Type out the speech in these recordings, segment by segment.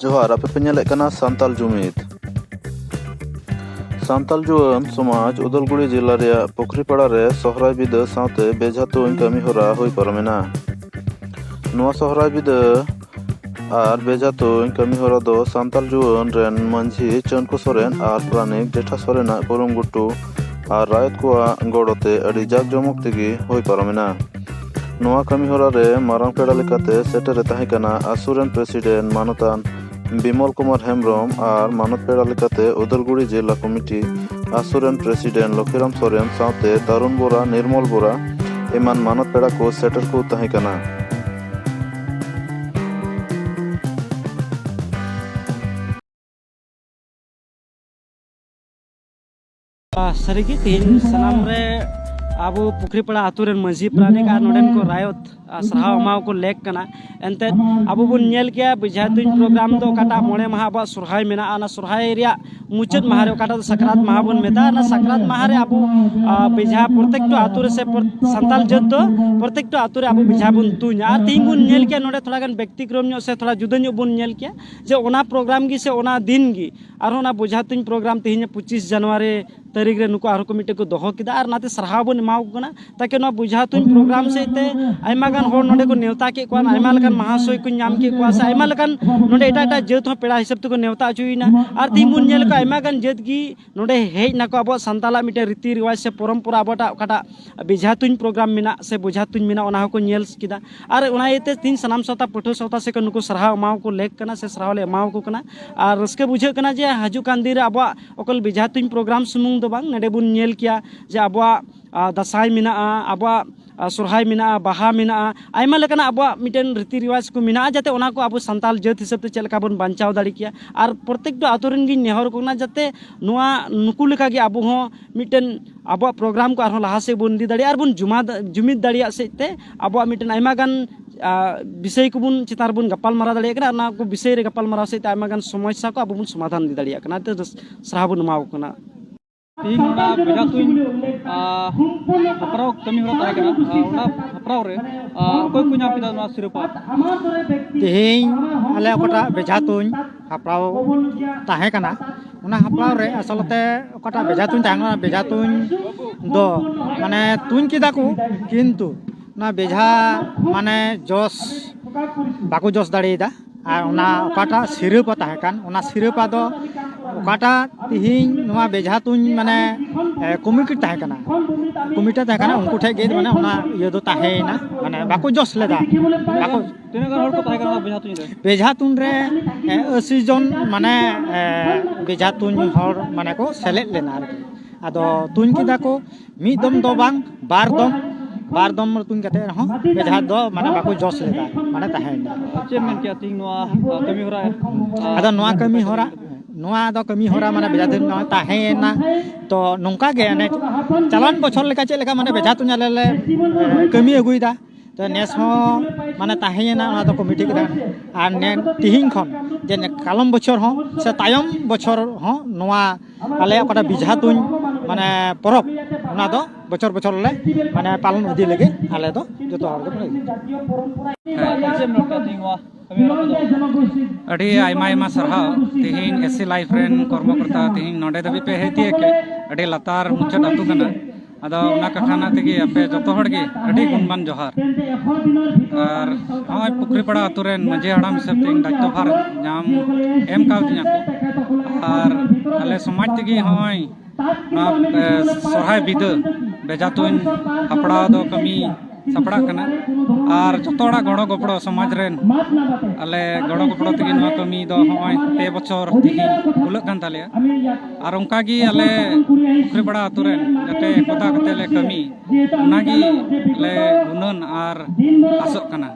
ᱡᱚᱦᱟᱨ ᱟᱯᱮ ᱯᱮ ᱧᱮᱞᱮᱫ ᱠᱟᱱᱟ ᱥᱟᱱᱛᱟᱞ ᱡᱩᱢᱤᱫ ᱥᱟᱱᱛᱟᱞ ᱡᱩᱣᱟᱹᱱ ᱥᱚᱢᱟᱡᱽ ᱩᱫᱟᱞᱜᱩᱲᱤ ᱡᱮᱞᱟ ᱨᱮᱭᱟᱜ ᱯᱩᱠᱷᱨᱤᱯᱟᱲᱟ ᱨᱮ ᱥᱚᱦᱨᱟᱭ ᱵᱤᱫᱟᱹ ᱥᱟᱶᱛᱮ ᱵᱮᱡᱷᱟ ᱛᱩᱧ ᱠᱟᱹᱢᱤ ᱦᱚᱨᱟ ᱦᱩᱭ ᱯᱟᱨᱚᱢᱮᱱᱟ ᱱᱚᱣᱟ ᱥᱚᱦᱨᱟᱭ ᱵᱤᱫᱟᱹ ᱟᱨ ᱵᱮᱡᱷᱟ ᱛᱩᱧ ᱠᱟᱹᱢᱤ ᱦᱚᱨᱟ ᱫᱚ ᱥᱟᱱᱛᱟᱞ ᱡᱩᱣᱟᱹᱱ ᱨᱮᱱ ᱢᱟᱹᱡᱷᱤ ᱪᱟᱹᱱᱠᱩ ᱥᱚᱨᱮᱱ ᱟᱨ ᱯᱨᱟᱱᱤᱠ ᱡᱮᱴᱷᱟ ᱥᱚᱨᱮᱱᱟᱜ ᱠᱩᱨᱩᱢᱩᱴᱩ ᱟᱨ ᱨᱟᱭᱚᱛ ᱠᱚᱣᱟᱜ ᱜᱚᱲᱚᱛᱮ ᱟᱹᱰᱤ ᱡᱟᱠ ᱡᱚᱢᱚᱠ ᱛᱮᱜᱮ ᱦᱩᱭ ᱯᱟᱨᱚᱢᱮᱱᱟ ᱱᱚᱣᱟ ᱠᱟᱹᱢᱤ ᱦᱚᱨᱟ ᱨᱮ ᱢᱟᱨᱟᱝ ᱯᱮᱲᱟ ᱞᱮᱠᱟᱛᱮ ᱥᱮᱴᱮᱨᱮ ᱛᱟᱦᱮᱸ ᱠᱟᱱᱟ ᱟᱥᱩ ᱨᱮᱱ ᱯᱨᱮᱥᱤᱰᱮᱱᱴ ᱢᱟᱱᱚᱛᱟᱱ ᱵᱤᱢᱚᱞ ᱠᱩᱢᱟᱨ ᱦᱮᱢᱵᱨᱚᱢ ᱟᱨ ᱢᱟᱱᱚᱛ ᱯᱮᱲᱟ ᱞᱮᱠᱟᱛᱮ ᱩᱫᱟᱞᱜᱩᱲᱤ ᱡᱮᱞᱟ ᱠᱚᱢᱤᱴᱤ ᱟᱥᱩ ᱨᱮᱱ ᱯᱨᱮᱥᱤᱰᱮᱱᱴ ᱞᱚᱠᱷᱤᱨᱟᱢ ᱥᱚᱨᱮᱱ ᱥᱟᱶᱛᱮ ᱛᱟᱨᱩᱱ ᱵᱚᱨᱟ ᱱᱤᱨᱢᱚᱞ ᱵᱚᱨᱟ ᱮᱢᱟᱱ ᱢᱟᱱᱚᱛ ᱯᱮᱲᱟ ᱠᱚ ᱥᱮᱴᱮᱨ ᱠᱚ ᱛᱟᱦᱮᱸ ᱠᱟᱱᱟ᱾ ᱥᱟᱹᱨᱤᱜᱮ ᱛᱮᱦᱮᱧ ᱥᱟᱱᱟᱢ ᱨᱮ ᱟᱵᱚ ᱯᱩᱠᱷᱨᱤᱯᱟᱲᱟ ᱟᱛᱳ ᱨᱮᱱ ᱢᱟᱹᱡᱷᱤ ᱯᱨᱟᱱᱤᱠ ᱟᱨ ᱱᱚᱰᱮᱱ ᱠᱚ ᱨᱟᱭᱚᱛ ᱥᱟᱨᱦᱟᱣ ᱮᱢᱟᱣ ᱠᱚ ᱞᱮᱠ ᱠᱟᱱᱟ ᱮᱱᱛᱮᱫ ᱟᱵᱚ ᱵᱚᱱ ᱧᱮᱞ ᱠᱮᱭᱟ ᱵᱮᱡᱷᱟ ᱛᱩᱧ ᱯᱨᱳᱜᱨᱟᱢ ᱫᱚ ᱚᱠᱟᱴᱟᱜ ᱢᱚᱬᱮ ᱢᱟᱦᱟ ᱟᱵᱚᱣᱟᱜ ᱥᱚᱨᱦᱟᱭ ᱢᱮᱱᱟᱜᱼᱟ ᱚᱱᱟ ᱥᱚᱨᱦᱟᱭ ᱨᱮᱭᱟᱜ ᱢᱩᱪᱟᱹᱫ ᱢᱟᱦᱟ ᱨᱮ ᱚᱠᱟᱴᱟᱜ ᱫᱚ ᱥᱟᱠᱨᱟᱛ ᱢᱟᱦᱟ ᱵᱚᱱ ᱢᱮᱛᱟᱜᱼᱟ ᱚᱱᱟ ᱥᱟᱠᱨᱟᱛ ᱢᱟᱦᱟ ᱨᱮ ᱟᱵᱚ ᱵᱮᱡᱷᱟ ᱯᱨᱚᱛᱮᱠᱴᱟ ᱟᱛᱳ ᱨᱮ ᱥᱮ ᱥᱟᱱᱛᱟᱲ ᱡᱟᱹᱛ ᱫᱚ ᱯᱨᱚᱛᱮᱠᱴᱟ ᱟᱛᱳ ᱨᱮ ᱟᱵᱚ ᱵᱮᱡᱷᱟ ᱵᱚᱱ ᱛᱩᱧᱟ ᱟᱨ ᱛᱮᱦᱮᱧ ᱵᱚᱱ ᱧᱮᱞ ᱠᱮᱭᱟ ᱱᱚᱰᱮ ᱛᱷᱚᱲᱟ ᱜᱟᱱ ᱵᱮᱠᱛᱤᱠᱨᱚᱢ ᱧᱚᱜ ᱥᱮ ᱛᱷᱚᱲᱟ ᱡᱩᱫᱟᱹ ᱧᱚᱜ ᱵᱚᱱ ᱧᱮᱞ ᱠᱮᱭᱟ ᱡᱮ ᱚᱱᱟ ᱯᱨᱳᱜᱨᱟᱢ ᱜᱮ ᱥᱮ ᱚᱱᱟ ᱫᱤᱱ ᱜᱮ ᱟᱨᱦᱚᱸ ᱚᱱᱟ ᱵᱚᱡᱷᱟ ᱛᱩᱧ ᱯᱨᱳᱜᱨᱟᱢ ᱛᱮᱦᱮᱧ ᱯᱚᱸᱪᱤᱥ ᱡᱟᱱᱩᱣᱟᱨᱤ ᱛᱟᱹᱨᱤᱠᱷ ᱨᱮ ᱱᱩᱠᱩ ᱟᱨᱦᱚᱸ ᱠᱚ ᱢᱤᱫᱴᱮᱡ ᱠᱚ ᱫᱚᱦᱚ ᱠᱮᱫᱟ ᱟᱨ ᱚᱱᱟᱛᱮ ᱥᱟᱨᱦᱟᱣ ᱵᱚᱱ ᱮᱢᱟᱣ ᱠᱚ ᱠᱟᱱᱟ ᱛᱟᱠᱤ ᱱᱚᱣᱟ ᱵᱚᱡᱷᱟ ᱛᱩᱧ ᱯᱨᱳᱜᱨᱟᱢ ᱥᱮᱫ ᱛᱮ ᱟᱭᱢᱟ ᱜᱟᱱ ᱦᱚᱲ ᱱᱚᱰᱮ ᱠᱚ ᱱᱮᱣᱛᱟ ᱠᱮᱫ ᱠᱚᱣᱟ ᱟᱭᱢᱟ ᱞᱮᱠᱟᱱ ᱢᱟᱦᱟᱥᱚᱭ ᱠᱚ ᱧᱟᱢ ᱠᱮᱫ ᱠᱚᱣᱟ ᱥᱮ ᱟᱭᱢᱟ ᱞᱮᱠᱟᱱ ᱱᱚᱰᱮ ᱮᱴᱟᱜ ᱮᱴᱟᱜ ᱡᱟᱹᱛ ᱦᱚᱸ ᱯᱮᱲᱟ ᱦᱤᱥᱟᱹᱵ ᱛᱮᱠᱚ ᱱᱮᱣᱛᱟ ᱦᱚᱪᱚᱭᱮᱱᱟ ᱟᱨ ᱛᱮᱦᱮᱧ ᱵᱚᱱ ᱧᱮᱞ ᱠᱚᱣᱟ ᱟᱭᱢᱟ ᱜᱟᱱ ᱡᱟᱹᱛ ᱜᱮ ᱱᱚᱰᱮ ᱦᱮᱡ ᱱᱟᱠᱚ ᱟᱵᱚᱣᱟᱜ ᱥᱟᱱᱛᱟᱞᱟᱜ ᱢᱤᱫᱴᱮᱱ ᱨᱤᱛᱤ ᱨᱮᱣᱟᱡᱽ ᱥᱮ ᱯᱚᱨᱚᱢᱯᱚᱨᱟ ᱟᱵᱚᱴᱟᱜ ᱚᱠᱟᱴᱟᱜ ᱵᱮᱡᱷᱟ ᱛᱩᱧ ᱯᱨᱳᱜᱨᱟᱢ ᱢᱮᱱᱟᱜ ᱥᱮ ᱵᱚᱡᱷᱟ ᱛᱩᱧ ᱢᱮᱱᱟᱜ ᱚᱱᱟ ᱦᱚᱸᱠᱚ ᱧᱮᱞ ᱠᱮᱫᱟ ᱟᱨ ᱚᱱᱟ ᱤᱭᱟᱹᱛᱮ ᱛᱮᱦᱮᱧ ᱥᱟᱱᱟᱢ ᱥᱟᱶᱛᱟ ᱯᱟᱹᱴᱷᱩᱣᱟᱹ ᱥᱟᱶᱛᱟ ᱥᱮᱫ ᱠᱷᱚᱱ ᱱᱩᱠᱩ ᱥᱟᱨᱦᱟᱣ ᱮᱢᱟᱣ ᱠᱚ ᱞᱮᱠ ᱠᱟᱱᱟ ᱥᱮ ᱥᱟᱨᱦᱟᱣ ᱞᱮ ᱮᱢᱟᱣ ᱠᱚ ᱠᱟᱱᱟ ᱟᱨ ᱨᱟᱹᱥᱠᱟᱹ ᱵᱩᱡᱷᱟᱹᱜ ᱠᱟᱱᱟ ᱡᱮ ᱦᱤᱡᱩᱜ ᱠᱟᱱ ᱫᱤᱱ ᱨᱮ ᱟᱵᱚᱣᱟᱜ ᱚᱠᱚᱭ ᱵᱮᱡᱷᱟ ᱛᱩᱧ ᱯᱨᱳᱜᱨᱟᱢ ᱥᱩᱢᱩᱝ ᱫᱚ ᱵᱟᱝ ᱱᱚᱰᱮ ᱵᱚᱱ ᱧᱮᱞ ᱠᱮᱭᱟ ᱡᱮ ᱟᱵᱚᱣᱟᱜ ᱫᱟᱸᱥᱟᱭ ᱢᱮᱱᱟᱜᱼᱟ ᱟᱵᱚᱣᱟᱜ ᱥᱚᱦᱨᱟᱭ ᱢᱮᱱᱟᱜᱼᱟ ᱵᱟᱦᱟ ᱢᱮᱱᱟᱜᱼᱟ ᱟᱭᱢᱟ ᱞᱮᱠᱟᱱᱟᱜ ᱟᱵᱚᱣᱟᱜ ᱢᱤᱫᱴᱮᱱ ᱨᱤᱛᱤ ᱨᱮᱣᱟᱡᱽ ᱠᱚ ᱢᱮᱱᱟᱜᱼᱟ ᱡᱟᱛᱮ ᱚᱱᱟ ᱠᱚ ᱟᱵᱚ ᱥᱟᱱᱛᱟᱲ ᱡᱟᱹᱛ ᱦᱤᱥᱟᱹᱵ ᱛᱮ ᱪᱮᱫ ᱞᱮᱠᱟ ᱵᱚᱱ ᱵᱟᱧᱪᱟᱣ ᱫᱟᱲᱮ ᱠᱮᱭᱟ ᱟᱨ ᱯᱨᱚᱛᱮᱠᱴᱤ ᱟᱹᱛᱩ ᱨᱮᱱ ᱜᱤᱧ ᱱᱮᱦᱚᱨ ᱟᱠᱚ ᱠᱟᱱᱟ ᱡᱟᱛᱮ ᱱᱚᱣᱟ ᱱᱩᱠᱩ ᱞᱮᱠᱟᱜᱮ ᱟᱵᱚ ᱦᱚᱸ ᱢᱤᱫᱴᱮᱱ ᱟᱵᱚᱣᱟᱜ ᱯᱨᱳᱜᱨᱟᱢ ᱠᱚ ᱟᱨᱦᱚᱸ ᱞᱟᱦᱟ ᱥᱮᱫ ᱵᱚᱱ ᱤᱫᱤ ᱫᱟᱲᱮᱭᱟᱜᱼᱟ ᱟᱨᱵᱚᱱ ᱡᱩᱢᱤᱫ ᱫᱟᱲᱮᱭᱟᱜ ᱥᱮᱫ ᱛᱮ ᱟᱵᱚᱣᱟᱜ ᱢᱤᱫᱴᱮᱱ ᱟᱭᱢᱟ ᱜᱟᱱ ᱵᱤᱥᱚᱭ ᱠᱚᱵᱚᱱ ᱪᱮᱛᱟᱱ ᱨᱮᱵᱚᱱ ᱜᱟᱯᱟᱞᱢᱟᱨᱟᱣ ᱫᱟᱲᱮᱭᱟᱜ ᱠᱟᱱᱟ ᱚᱱᱟ ᱠᱚ ᱵᱤᱥᱚᱭ ᱨᱮ ᱜᱟᱯᱟᱞᱢᱟᱨᱟᱣ ᱥᱮᱫ ᱛᱮ ᱟᱭᱢᱟ ᱜᱟᱱ ᱥᱚᱢᱚᱥᱥᱟ ᱠᱚ ᱟᱵᱚ ᱵᱚᱱ ᱥᱚᱢᱟᱫᱷᱟᱱ ᱤᱫᱤ ᱫᱟᱲᱮᱭᱟᱜ ᱠᱟᱱᱟ ᱚᱱᱟᱛᱮ ᱥᱟᱨᱦᱟᱣ ᱵᱚᱱ ᱮᱢᱟᱣ ᱠᱟᱱᱟ ᱛᱮᱦᱮᱧ ᱚᱱᱟ ᱵᱮᱲᱟ ᱛᱩᱧ ᱦᱟᱯᱲᱟᱣ ᱠᱟᱹᱢᱤ ᱦᱚᱨᱟ ᱛᱟᱦᱮᱸ ᱠᱟᱱᱟ ᱚᱱᱟ ᱦᱟᱯᱲᱟᱣ ᱨᱮ ᱚᱠᱚᱭ ᱠᱚ ᱧᱟᱢ ᱠᱮᱫᱟ ᱱᱚᱣᱟ ᱥᱤᱨᱯᱟᱹ ᱛᱮᱦᱮᱧ ᱟᱞᱮ ᱚᱠᱟᱴᱟᱜ ᱵᱮᱡᱷᱟ ᱛᱩᱧ ᱦᱟᱯᱲᱟᱣ ᱛᱟᱦᱮᱸ ᱠᱟᱱᱟ ᱚᱱᱟ ᱦᱟᱯᱲᱟᱣ ᱨᱮ ᱟᱥᱚᱞᱛᱮ ᱚᱠᱟᱴᱟᱜ ᱵᱮᱡᱷᱟ ᱛᱩᱧ ᱛᱟᱦᱮᱸ ᱠᱟᱱᱟ ᱵᱮᱡᱷᱟ ᱛᱩᱧ ᱫᱚ ᱢᱟᱱᱮ ᱛᱩᱧ ᱠᱮᱫᱟ ᱠᱚ ᱠᱤᱱᱛᱩ ᱚᱱᱟ ᱵᱮᱡᱷᱟ ᱢᱟᱱᱮ ᱡᱚᱥ ᱵᱟᱠᱚ ᱡᱚᱥ ᱫᱟᱲᱮᱭᱟᱫᱟ ᱟᱨ ᱚᱱᱟ ᱚᱠᱟᱴᱟᱜ ᱥᱤᱨᱟᱹᱯᱟ ᱛᱟᱦᱮᱸ ᱠᱟᱱ ᱚᱱᱟ ᱥᱤᱨᱟᱹᱯᱟ ᱫᱚ ᱚᱠᱟᱴᱟᱜ ᱛᱤᱦᱤᱧ ᱱᱚᱣᱟ ᱵᱮᱡᱷᱟ ᱛᱩᱧ ᱢᱟᱱᱮ ᱠᱚᱢᱤᱴᱤ ᱛᱟᱦᱮᱸ ᱠᱟᱱᱟ ᱠᱚᱢᱤᱴᱤ ᱛᱟᱦᱮᱸ ᱠᱟᱱᱟ ᱩᱱᱠᱩ ᱴᱷᱮᱡ ᱜᱮ ᱢᱟᱱᱮ ᱚᱱᱟ ᱤᱭᱟᱹ ᱫᱚ ᱛᱟᱦᱮᱸᱭᱮᱱᱟ ᱢᱟᱱᱮ ᱵᱟᱠᱚ ᱡᱚᱥ ᱞᱮᱫᱟ ᱵᱟᱠᱚ ᱛᱤᱱᱟᱹᱜ ᱜᱟᱱ ᱦᱚᱲ ᱠᱚ ᱛᱟᱦᱮᱸ ᱠᱟᱱᱟ ᱵᱮᱡᱷᱟ ᱛᱩᱧ ᱨᱮ ᱵᱮᱡᱷᱟ ᱛᱩᱧ ᱨᱮ ᱟᱹᱥᱤ ᱡᱚᱱ ᱢᱟᱱᱮ ᱵᱮᱡᱷᱟ ᱛᱩᱧ ᱦᱚᱲ ᱢᱟᱱᱮ ᱠᱚ ᱥᱮᱞᱮᱫ ᱞᱮᱱᱟ ᱟᱨᱠᱤ ᱟᱫᱚ ᱛᱩᱧ ᱠᱮᱫᱟ ᱠᱚ ᱢᱤᱫ ᱫᱚᱢ ᱫᱚ ᱵᱟᱝ ᱵᱟᱨ ᱫᱚᱢ ᱵᱟᱨ ᱫᱚᱢ ᱛᱩᱧ ᱠᱟᱛᱮ ᱨᱮᱦᱚᱸ ᱵᱮᱡᱷᱟ ᱫᱚ ᱢᱟᱱᱮ ᱵᱟᱠᱚ ᱡᱚᱥ ᱞᱮᱫᱟ ᱢᱟᱱᱮ ᱛᱟᱦᱮᱸᱭᱮᱱᱟ ᱪᱮᱫ ᱢᱮᱱ ᱠᱮᱫᱟ ᱛᱤᱦᱤᱧ ᱱᱚᱣᱟ ᱠᱟᱹᱢᱤ ᱦᱚᱨᱟ ᱟᱫᱚ ᱱᱚᱣᱟ ᱠᱟᱹᱢᱤ ᱦᱚᱨᱟ ᱱᱚᱣᱟ ᱫᱚ ᱠᱟᱹᱢᱤ ᱦᱚᱨᱟ ᱢᱟᱱᱮ ᱵᱮᱡᱷᱟ ᱛᱩᱧ ᱱᱚᱣᱟ ᱛᱟᱦᱮᱸᱭᱮᱱᱟ ᱛᱚ ᱱᱚᱝᱠᱟ ᱜᱮ ᱚᱱᱮ ᱪᱟᱞᱟᱣᱮᱱ ᱵᱚᱪᱷᱚᱨ ᱞᱮᱠᱟ ᱪᱮᱫ ᱞᱮᱠᱟ ᱢᱟᱱᱮ ᱵᱮᱡᱷᱟ ᱛᱩᱧ ᱟᱞᱮ ᱞᱮ ᱠᱟᱹᱢᱤ ᱟᱹᱜᱩᱭᱮᱫᱟ ᱛᱚ ᱱᱮᱥ ᱦᱚᱸ ᱢᱟᱱᱮ ᱛᱟᱦᱮᱸᱭᱮᱱᱟ ᱚᱱᱟ ᱫᱚᱠᱚ ᱢᱤᱴᱤᱡ ᱠᱮᱫᱟ ᱟᱨ ᱱᱮ ᱛᱤᱦᱤᱧ ᱠᱷᱚᱱ ᱡᱮ ᱠᱟᱞᱚᱢ ᱵᱚᱪᱷᱚᱨ ᱦᱚᱸ ᱥᱮ ᱛᱟᱭᱚᱢ ᱵᱚᱪᱷᱚᱨ ᱦᱚᱸ ᱱᱚᱣᱟ ᱟᱞᱮᱭᱟᱜ ᱚᱠᱟᱴᱟᱜ ᱵᱤᱡᱷᱟ ᱛᱩᱧ ᱢᱟᱱᱮ ᱯᱚᱨᱚᱵᱽ ᱚᱱᱟ ᱫᱚ ᱵᱚᱪᱷᱚᱨ ᱵᱚᱪᱷᱚᱨ ᱞᱮ ᱢᱟᱱᱮ ᱯᱟᱞᱚᱱ ᱤᱫᱤ ᱞᱟᱹᱜᱤᱫ ᱟᱞᱮ ᱫᱚ ᱡᱚᱛᱚ ᱦᱚᱲ ᱜᱮ ᱟᱹᱰᱤ ᱟᱭᱢᱟ ᱟᱭᱢᱟ ᱥᱟᱨᱦᱟᱣ ᱛᱮᱦᱮᱧ ᱮᱥᱤ ᱞᱟᱭᱤᱯᱷ ᱨᱮᱱ ᱠᱚᱨᱢᱚᱠᱚᱨᱛᱟ ᱛᱮᱦᱮᱧ ᱱᱚᱰᱮ ᱫᱷᱟᱹᱵᱤᱡ ᱯᱮ ᱦᱮᱡ ᱛᱤᱭᱟᱹᱜ ᱠᱮᱫ ᱟᱹᱰᱤ ᱞᱟᱛᱟᱨ ᱢᱩᱪᱟᱹᱫ ᱟᱹᱛᱩ ᱠᱟᱱᱟ ᱟᱫᱚ ᱚᱱᱟ ᱠᱟᱛᱷᱟ ᱨᱮᱱᱟᱜ ᱛᱮᱜᱮ ᱟᱯᱮ ᱡᱚᱛᱚ ᱦᱚᱲ ᱜᱮ ᱟᱹᱰᱤ ᱜᱩᱱᱢᱟᱱ ᱡᱚᱦᱟᱨ ᱟᱨ ᱱᱚᱜᱼᱚᱭ ᱯᱩᱠᱷᱨᱤᱯᱟᱲᱟ ᱟᱹᱛᱩ ᱨᱮᱱ ᱢᱟᱹᱡᱷᱤ ᱦᱟᱲᱟᱢ ᱦᱤᱥᱟᱹᱵ ᱛᱮ ᱤᱧ ᱫᱟᱭᱤᱛᱛᱚ ᱵᱷᱟᱨ ᱧᱟᱢ ᱮᱢ ᱠᱟᱣᱫᱤᱧᱟ ᱠᱚ ᱟᱨ ᱟᱞᱮ ᱥᱚᱢᱟᱡᱽ ᱛᱮᱜᱮ ᱱᱚᱜᱼᱚᱭ ᱱᱚᱣᱟ ᱥᱚᱨᱦᱟᱭ ᱵᱤᱫᱟᱹ ᱵᱮᱡᱟ ᱛᱩᱧ ᱦᱟᱯᱲᱟᱣ ᱫᱚ ᱠᱟᱹᱢᱤ ᱥᱟᱯᱲᱟᱜ ᱠᱟᱱᱟ ᱟᱨ ᱡᱚᱛᱚ ᱦᱚᱲᱟᱜ ᱜᱚᱲᱚ ᱜᱚᱯᱚᱲᱚ ᱥᱚᱢᱟᱡᱽ ᱨᱮᱱ ᱟᱞᱮ ᱜᱚᱲᱚ ᱜᱚᱯᱚᱲᱚ ᱛᱮᱜᱮ ᱱᱚᱣᱟ ᱠᱟᱹᱢᱤ ᱫᱚ ᱱᱚᱜᱼᱚᱭ ᱯᱮ ᱵᱚᱪᱷᱚᱨ ᱛᱮᱜᱮ ᱠᱩᱞᱟᱹᱜ ᱠᱟᱱ ᱛᱟᱞᱮᱭᱟ ᱟᱨ ᱚᱱᱠᱟ ᱜᱮ ᱟᱞᱮ ᱯᱩᱠᱷᱨᱤᱯᱟᱲᱟ ᱟᱛᱳ ᱨᱮᱱ ᱡᱟᱛᱮ ᱠᱚᱛᱟ ᱠᱟᱛᱮ ᱞᱮ ᱠᱟᱹᱢᱤ ᱚᱱᱟᱜᱮ ᱞᱮ ᱜᱩᱱᱟᱹᱱ ᱟᱨ ᱟᱥᱚᱜ ᱠᱟᱱᱟ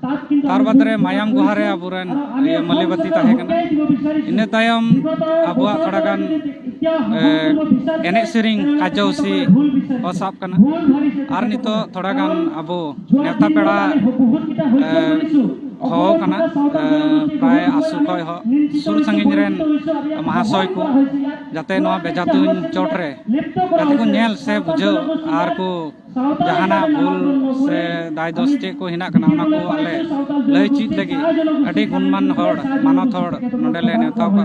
ᱛᱟᱨ ᱵᱟᱫᱽ ᱨᱮ ᱢᱟᱭᱟᱢ ᱜᱩᱦᱟ ᱨᱮ ᱟᱵᱚᱨᱮᱱ ᱤᱭᱟᱹ ᱢᱟᱹᱞᱤᱵᱟᱹᱛᱤ ᱛᱟᱦᱮᱸ ᱠᱟᱱᱟ ᱤᱱᱟᱹ ᱛᱟᱭᱚᱢ ᱟᱵᱚᱣᱟᱜ ᱛᱷᱚᱲᱟ ᱜᱟᱱ ᱮᱱᱮᱡ ᱥᱮᱨᱮᱧ ᱠᱟᱡᱚᱥᱤ ᱠᱚ ᱥᱟᱵ ᱠᱟᱱᱟ ᱟᱨ ᱱᱤᱛᱚᱜ ᱛᱷᱚᱲᱟ ᱜᱟᱱ ᱟᱵᱚ ᱱᱮᱣᱛᱟ ᱯᱮᱲᱟ ᱦᱚᱦᱚ ᱠᱟᱱᱟ ᱯᱨᱟᱭ ᱟᱥᱚ ᱠᱷᱚᱡ ᱦᱚᱸ ᱥᱩᱨ ᱥᱟᱺᱜᱤᱧ ᱨᱮᱱ ᱢᱟᱦᱟᱥᱚᱭ ᱠᱚ ᱡᱟᱛᱮ ᱱᱚᱣᱟ ᱵᱮᱡᱟ ᱛᱩᱧ ᱪᱚᱴ ᱨᱮ ᱡᱟᱛᱮ ᱠᱚ ᱧᱮᱞ ᱥᱮ ᱵᱩᱡᱷᱟᱹᱣ ᱟᱨ ᱠᱚ ᱡᱟᱦᱟᱱᱟᱜ ᱵᱷᱩᱞ ᱥᱮ ᱫᱟᱭ ᱫᱚᱥ ᱪᱮᱫ ᱠᱚ ᱦᱮᱱᱟᱜ ᱠᱟᱱᱟ ᱚᱱᱟ ᱠᱚ ᱟᱞᱮ ᱞᱟᱹᱭ ᱪᱮᱫ ᱞᱟᱹᱜᱤᱫ ᱟᱹᱰᱤ ᱜᱩᱱᱢᱟᱱ ᱦᱚᱲ ᱢᱟᱱᱚᱛ ᱦᱚᱲ ᱱᱚᱰᱮ ᱞᱮ ᱱᱮᱣᱛᱟ ᱠᱚᱣᱟ